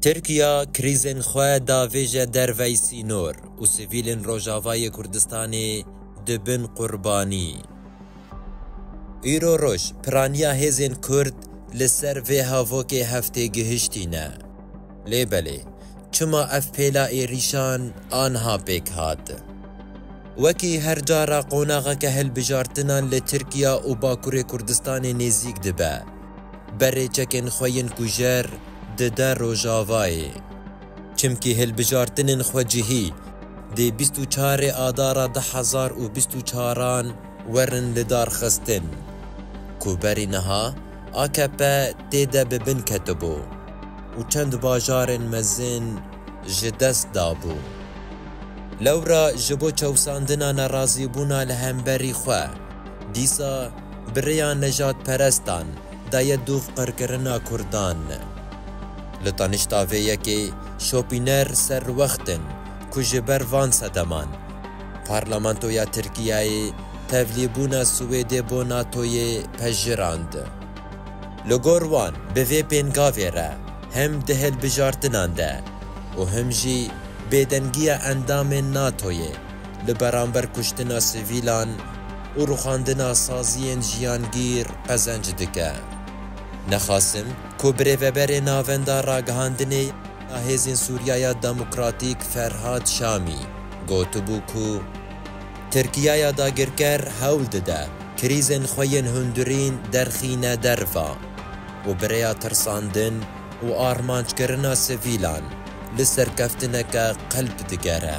Tirkiya krîzên xwe davêje dervey sînor û sivîlên Rojavayê Kurdistanê dibin qurbanî. Îro roj piraniya hêzên Kurd li ser vê havokê heftê gihiştîne. Lê belê çima ev pêla êrîşan anha pêk hat? Wekî her cara qonaxeke hilbijartinan li Tirkiya û Bakurê Kurdistanê nêzîk dibe. Berê çekên xwe yên kujer dide Rojavayê. Çimkî hilbijartinên xwecihî dê bîst û çarê Adara du hezar û bîst û çaran werin lidarxistin ku berî niha akp tê de bi bin ketibû û çend bajarên mezin ji dest dabû. Lewra ji bo çewsandina nerazîbûna li hemberî xwe dîsa Bi rêya nejadperestan daye dûv qirkirina Kurdan. Li tanişta vê yekê şopîner serwext in ku ji ber van sedeman Parlamentoya Tirkiyeyê tevlîbûna Swêdê bo NATOyê pejirand. Li gor wan bi vê pêngavê re hem di hilbijartinan de û him jî bêdengiya endamên NATOyê, li beramber kuştina sivîlan û rûxandina saziyên jiyangîr qezenc dike. Nexasim ku birêveberê navenda ragihandinê ya Hêzên Sûriyaya Demokratîk Ferhad Şamî gotibû ku Tirkiyaya dagirker hewl dide krîzên xwe yên hundirîn derxîne derva û bi rêya tirsandin û armancekirina sivîlan li serkeftineke qilp digere.